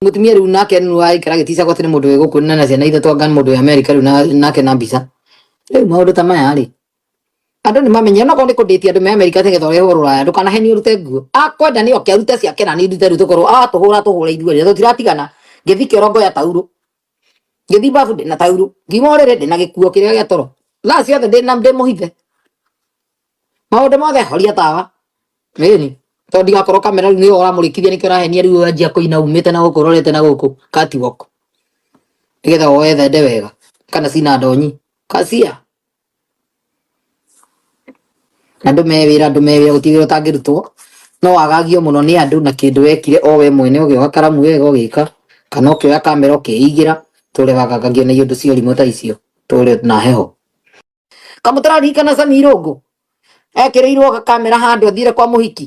mutumia riu nake nu aikara gitica gwati ni mundu wiguku na na ciana ithatu anga ni mundu wi america riu na- nake na mbica riu maundu ta maya ri andu ni mamenye ona korwo ni kunditia andu me america nigetha urehwo ruraya ndukanaheni urute nguo akwenda ni oke arute ciake na ni ndute riu tukorwo atuhura tuhura ithuerĩ na tutiratigana ngithike orongoya tauro ngĩthiĩ babu ndĩ na taurũ ngiuma ũrĩrĩ ndĩ na gĩkuo kĩrĩa gĩa toro thaa ciothe ndĩ na ndĩ mũhithe maũndũ mothe horia tawa ĩni tondũ ndigakorwo kamera rĩu nĩyo ũramũrĩkithia nĩkĩo ũrahenia rĩu wanjia kũina umĩte na gũkũ ũrorete na gũkũ catwalk nĩgetha woe thende wega kana cina ndonyi kacia andũ mewĩra andũ mewĩra gũtirĩ wĩra ũtangĩrutwo no wagagio mũno nĩ andũ na kĩndũ wekire o we mwene ũgĩoka karamu wega ũgĩka kana ũkĩoya kamera ũkĩigĩra tũrĩ wagagagio nĩ ũndũ cia ũrimũ ta icio tũrĩ na heho kamũtararirikana Sami Irũngũ ekĩrĩirwo kamera handũ athire kwa mũhiki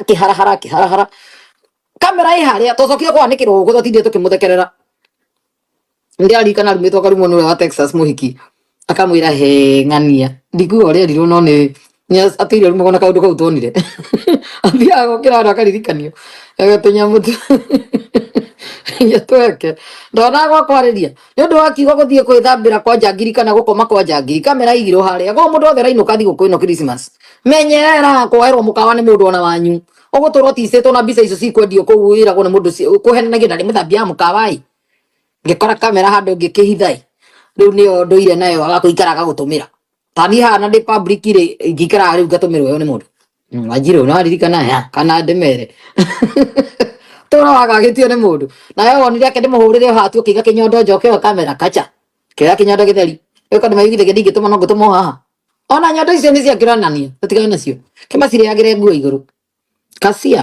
akĩharahara akĩharahara kamera ĩ harĩa twacokire kwanĩkĩrwo gũkũ twatindire tũkĩmũthekerera ndĩraririkana arumĩtwo akarumwo nĩ ũrĩa wa texas mũhiki akamwĩra he ng'ania ndikuga ũrĩa erirwo no nĩ nĩ- atĩ iria rumagwo na kaũndũ kau tuonire athiaga gũkĩra handũ akaririkanio agatũnyamũ tu tweke ndonaga gwa kwarĩria nĩ ũndũ wa kiugo gũthiĩ kwĩthambĩra kwa njangiri kana gũkoma kwa njangiri kamera igirwo harĩa gũkũ mũndũ wothe rainũka thigũkũ ĩno Christmas menyerera kwoerwo mũkawa nĩ mũndũ ona wanyu ũgũtũrwo ticĩtwo na mbica icio cikwendio kũu ĩragwo nĩ mũndũ ci- kũhenanagia na nĩ mũthambia wa mũkawa ĩ ngĩkora kamera handũ ngĩkĩhitha ĩ rĩu nĩyo ndũire nayo agakũikara agagũtũmĩra tani hana ndĩ public rĩ ingĩikara rĩu ngatũmĩrwo yo nĩ mũndũ Mm, Wanjirũ no aririkana ya kana ndemere tũra wagagĩtio nĩ mũndũ nawe wonire ake ndĩmũhũrĩre hatu ũkĩiga kĩnyondo njoke ĩyo kamera kacha kĩoya kĩnyondo gĩtheri ĩko ndĩmaigithĩria ndingĩtũma no ngũtũma o haha ona nyondo icio nĩ cia kĩronania tũtigane nacio kĩmacirĩagĩre nguo igũrũ kacia